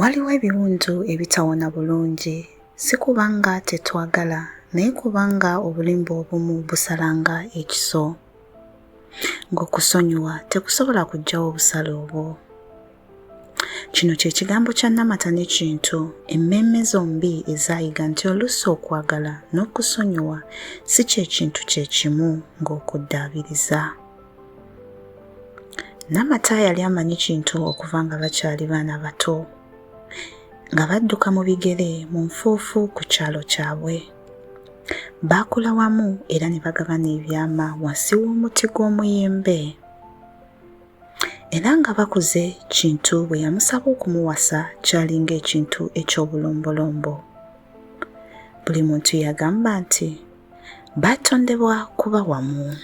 Waliwo ebiwundu ebitawona bulungi, si kubanga tetwagala, naye kubanga obulimba obumu busalanga ekiso. Ng'okusonyiwa tekusobola kuggyawo obusale obwo. Kino kye kigambo kya namata n'ekintu, emmeeme zombi ezaayiga nti oluusi okwagala n'okusonyiwa si kye kintu kye kimu ng'okuddaabiriza. Namata yali amanyi kintu okuva nga bakyali baana bato nga badduka mu bigere mu nfuufu ku kyalo kyabwe. Baakula wamu era ne bagabana ebyama wansi w'omuti gw'omuyembe. Era nga bakuze Kintu bwe yamusaba okumuwasa kyalinga ekintu eky'obulombolombo. Buli muntu yagamba nti baatondebwa kuba wamu.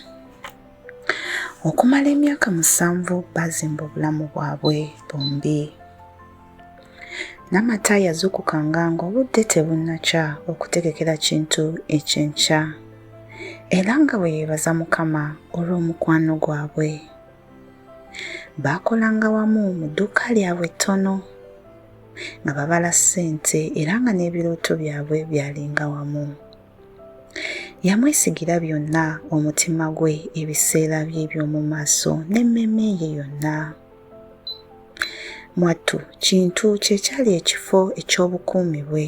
Okumala emyaka musanvu baazimba obulamu bwabwe bombi. Namata yazukukanga ng'obudde tebunnakya okutegekera kintu ekyenkya era nga bwe yeebaza Mukama olw'omukwano gwabwe. Baakolanga wamu mu dduuka lyabwe ettono nga babala ssente era nga n'ebirooto byabwe byalinga wamu. Yamwesigira byonna omutima gwe, ebiseera bye eby'omu maaso n'emmeeme ye yonna. Mwattu Kintu kye kyali ekifo eky'obukuumi bwe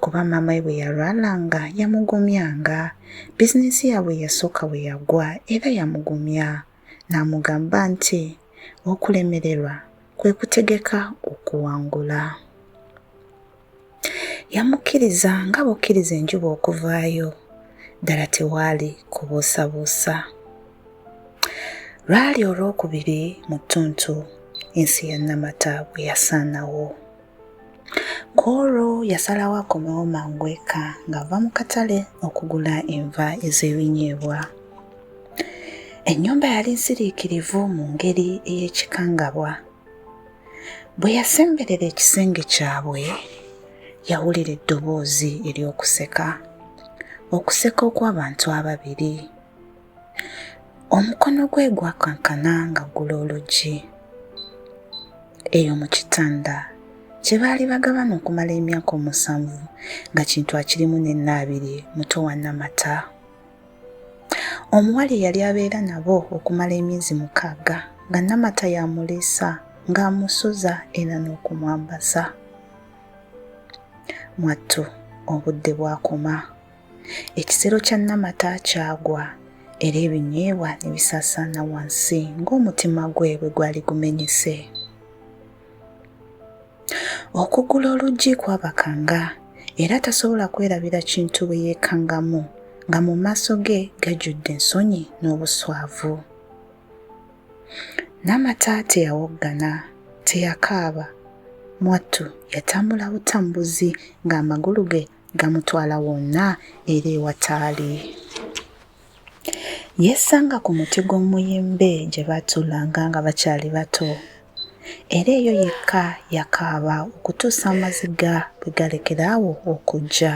kuba maama we bwe yalwalanga yamugumyanga, bizinensi yaabwe eyasooka bwe yagwa era yamugumya n'amugamba nti okulemererwa kwe kutegeka okuwangula. Yamukkiriza nga bukkiriza enjuba okuvaayo, ddala tewaali kubuusabuusa. Lwali olwokubiri mu ttuntu ensi ya Namata bwe yasaanawo. ku olwo yasalawo akomewo mangu eka ng'ava mu katale okugula enva ez'ebinyeebwa ennyumba yali nsiriikirivu mu ngeri ey'ekikangabwa bwe yasemberera ekisenge kyabwe yawulira eddoboozi ery'okuseka okuseka okw'abantu ababiri omukono gwe gwakankana nga ggula oluggi eyo mu kitanda kye baali bagabana okumala emyaka omusanvu nga kintu akirimu nennaabiri muto wa namata omuwala eyali abeera nabo okumala emyezi mukaaga nga namata yamuliisa ng'amusuza era n'okumwambasa mwattu obudde bwakoma ekisero kya namata kyagwa era ebinyeebwa ne bisaasaana wansi ng'omutima gwe bwe gwali gumenyese okugula oluggi kwabakanga era tasobola kwerabira kintu bwe yeekangamu nga mu maaso ge gajjudde ensonyi n'obuswavu namata teyawoggana teyakaaba mwattu yatambula butambuzi ng'amagulu ge gamutwala wonna era ewataali yeesanga ku muti gw'omuyimbe gye baatuulanga nga bakyali bato era eyo yekka yakaaba okutuusa amaziga bwe galekera awo okujja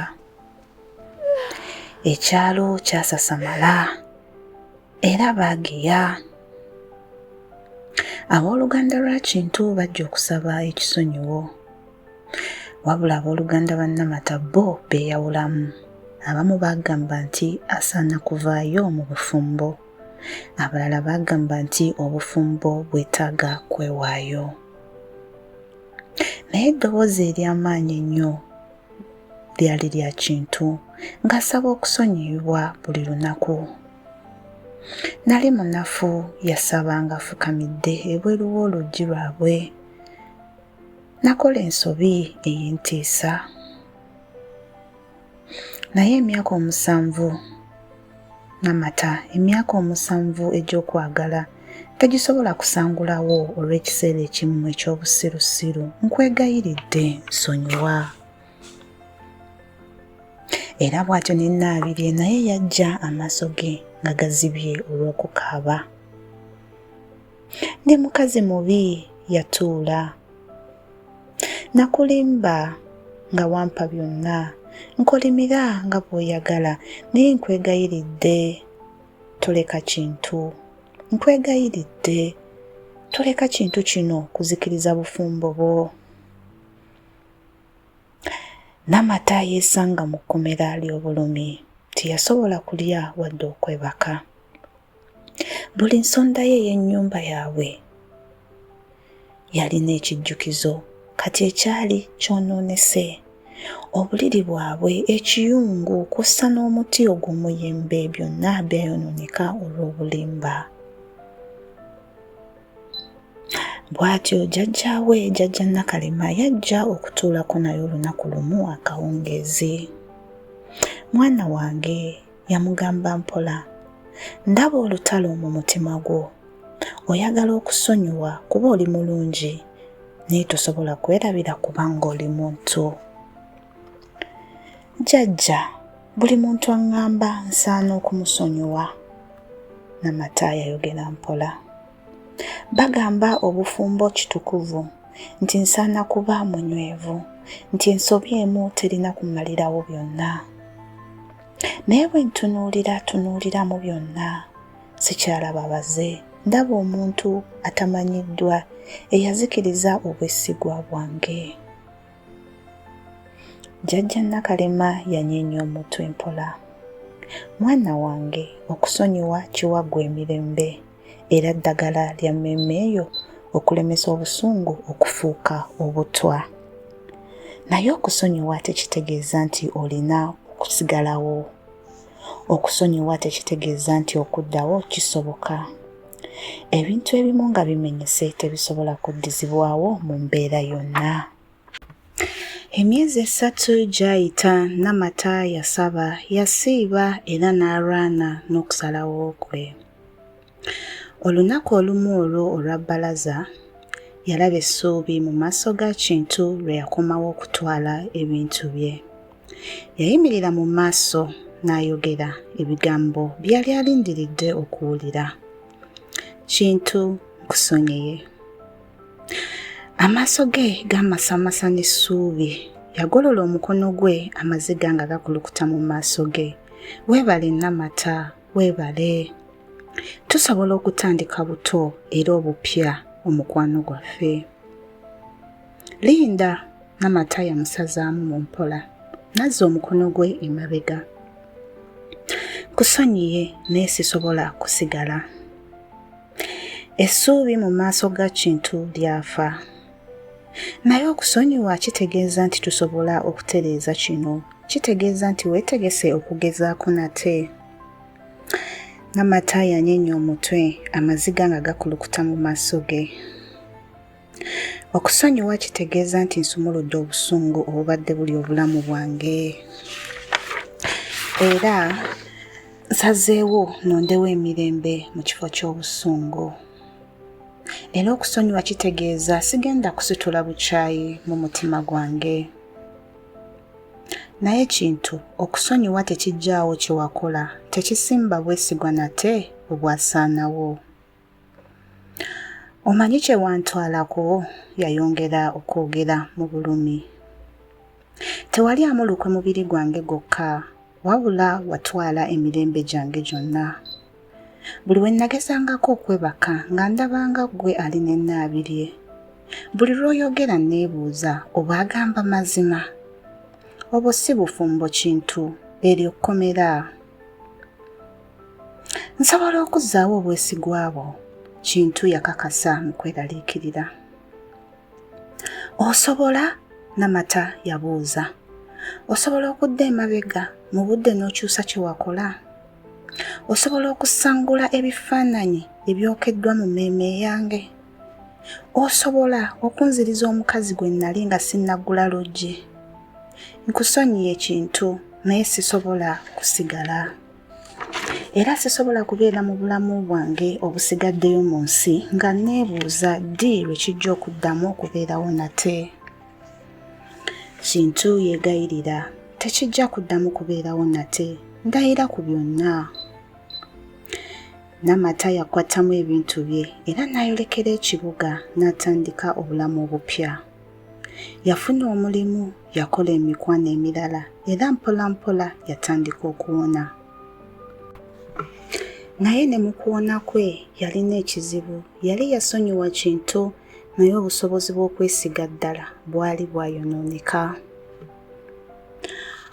ekyalo kyasasamala era baageya ab'oluganda lwa kintu bajja okusaba ekisonyiwo wabula abooluganda ba namata bo beeyawulamu abamu baagamba nti asaana kuvaayo mu bufumbo abalala baagamba nti obufumbo bwetaaga kwewaayo naye eddoboozi ery'amaanyi ennyo lyali lya kintu ng'asaba okusonyiyibwa buli lunaku nali munafu yasaba ng'afukamidde ebweru w'oluggi lwabwe Nakola ensobi ey'entiisa, naye emyaka omusanvu namata emyaka omusanvu egy'okwagala tegisobola kusangulawo olw'ekiseera ekimu eky'obusirusiru nkwegayiridde nsonyiwa era bw'atyo ne nnaabirye naye yajja amaaso ge nga gazibye olw'okukaaba ndi mukazi mubi yatuula nakulimba nga wampa byonna nkolimira nga bw'oyagala naye nkwegayiridde toleka kintu nkwegayiridde toleka kintu kino kuzikiriza bufumbo bwo namata yeesanga mu kkomera ly'obulumi teyasobola kulya wadde okwebaka buli nsonda ye ey'ennyumba yaabwe yalina ekijjukizo kati ekyali kyonoonese obuliri bwabwe ekiyungu kw'ossa n'omuti ogw'omuyembe byonna byayonooneka olw'obulimba bw'atyo jjajjaawe jjajja nakalema yajja okutuulako naye olunaku lumu akawungeezi mwana wange yamugamba mpola ndaba olutalo mu mutima gwo oyagala okusonyiwa kuba oli mulungi naye tosobola kwerabira kubanga oli muntu jajja buli muntu aŋŋamba nsaana okumusonyiwa namata yayogera mpola bagamba obufumbo kitukuvu nti nsaana kuba munywevu nti ensobi emu terina kumalirawo byonna naye bwe ntunuulira tunuulira mu byonna sikyalaba baze ndaba omuntu atamanyiddwa eyazikiriza obwesigwa bwange jjajja nakalema yanyeenya omutwe mpola mwana wange okusonyiwa kiwa gwe emirembe era ddagala lya mmeeme eyo okulemesa obusungu okufuuka obutwa. Naye okusonyiwa tekitegeeza nti olina okusigalawo. Okusonyiwa tekitegeeza nti okuddawo kisoboka. Ebintu ebimu nga bimenyese tebisobola kuddizibwawo mu mbeera yonna. Emyezi esatu gyayita Namata yasaba, yasiiba era n'alwana n'okusalawo kwe. Olunaku olumu olwo olwa bbalaza, yalaba essuubi mu maaso ga Kintu lwe yakomawo okutwala ebintu bye. Yayimirira mu maaso n'ayogera ebigambo byali alindiridde okuwulira. Kintu nkusonyiye. Amaaso ge gaamasamasa n'essuubi. Yagolola omukono gwe amaziga nga gakulukuta mu maaso ge. Weebale Namata, Weebale. Tusobola okutandika buto era obupya omukwano gwaffe. Linda namata yamusazaamu mu mpola nazza omukono gwe emabega. Kusonyiye naye sisobola kusigala. Essuubi mu maaso ga Kintu lyafa. Naye okusonyiwa kitegeeza nti tusobola okutereeza kino. Kitegeeza nti weetegese okugezaako nate. Nga Mataayi anyenya omutwe, amaziga nga gakulukuta mu maaso ge. Okusonyiwa kitegeeza nti nsumuludde obusungu obubadde buli obulamu bwange. Era nsazeewo nondewo emirembe mu kifo ky'obusungu. era okusonyiwa kitegeeza sigenda kusitula bukyayi mu mutima gwange naye kintu okusonyiwa tekijjaawo kye wakola tekisimba bwesigwa nate obwasaanawo omanyi kye wantwalako yayongera okwogera mu bulumi tewali amulukwe mubiri gwange gwokka wabula watwala emirembe gyange gyonna buli we nnagezangako okwebaka nga ndabanga ggwe ali ne nnaabirye buli lw'oyogera nneebuuza oba agamba mazima obwo si bufumbo kintu eryo kkomera nsobola okuzzaawo obwesigwa bwo kintu yakakasa mu kweraliikirira osobola namata yabuuza osobola okudda emabega mu budde n'okyusa kye wakola osobola okusangula ebifaananyi ebyokeddwa mu mmeeme yange osobola okunziriza omukazi gwe nnali nga sinnaggula luggi nkusonyiye ekintu naye sisobola kusigala era sisobola kubeera mu bulamu bwange obusigaddeyo mu nsi nga nneebuuza ddi lwe kijja okuddamu okubeerawo nate kintu yeegayirira tekijja kuddamu kubeerawo nate ndayira ku byonna namata yakwatamu ebintu bye era n'ayolekera ekibuga n'atandika obulamu obupya Yafuna omulimu, yakola emikwano emirala, era mpolampola yatandika okuwona. Naye ne mu kuwona kwe yalina ekizibu. Yali yasonyiwa Kintu, naye obusobozi bw'okwesiga ddala bwali bwayonooneka.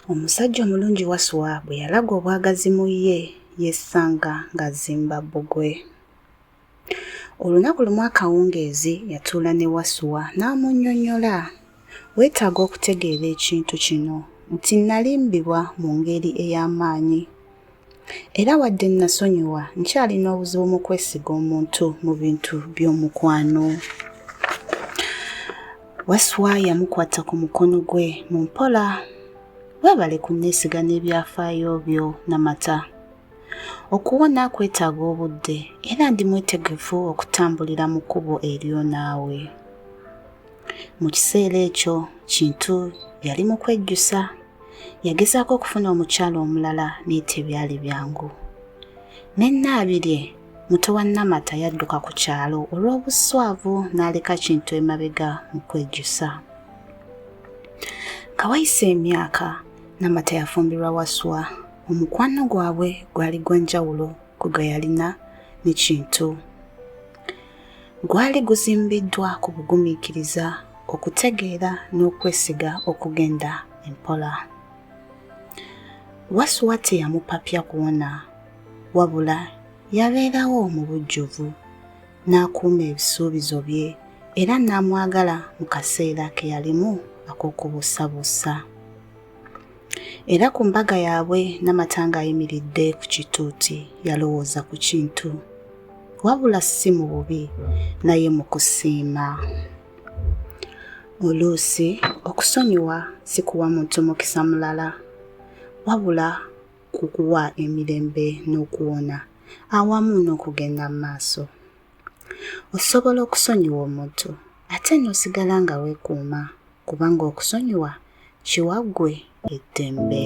Omusajja omulungi Waswa bwe yalaga obwagazi mu ye, yesanga ng'azimba bbugwe. Olunaku lumu akawungeezi yatuula ne Wasuwa n'amunnyonnyola, Weetaaga okutegeera ekintu kino nti nnalimbibwa mu ngeri ey'amaanyi. Era wadde nnasonyiwa, nkyalina obuzibu mu kwesiga omuntu mu bintu by'omukwano. Wasuwa yamukwata ku mukono gwe mu mpola. Weebale kunneesiga n'ebyafaayo byo Namata. Okuwona kwetaaga obudde era ndi mwetegefu okutambulira mu kkubo eryo naawe. Mu kiseera ekyo Kintu yali mu kwejjusa. Yagezaako okufuna omukyala omulala naye tebyali byangu. Ne Nnaabirye muto wa Namata yadduka ku kyalo olw'obuswavu n'aleka Kintu emabega mu kwejjusa. Nga wayise emyaka, Namata yafumbirwa Waswa omukwano gwabwe gwali gwa njawulo ku gwe yalina ne kintu gwali guzimbiddwa ku bugumiikiriza okutegeera n'okwesiga okugenda empola wasuwa teyamupapya kuwona wabula yabeerawo mu bujjuvu n'akuuma ebisuubizo bye era n'amwagala mu kaseera ke yalimu ak'okubuusabuusa. era ku mbaga yaabwe namata ng'ayimiridde ku kituuti yalowooza ku kintu wabula si mu bubi naye mu kusiima oluusi okusonyiwa si kuwa muntu mukisa mulala wabula ku kuwa emirembe n'okuwona awamu n'okugenda mu maaso osobola okusonyiwa omuntu ate n'osigala nga weekuuma kubanga okusonyiwa kiwa ggwe eddembe.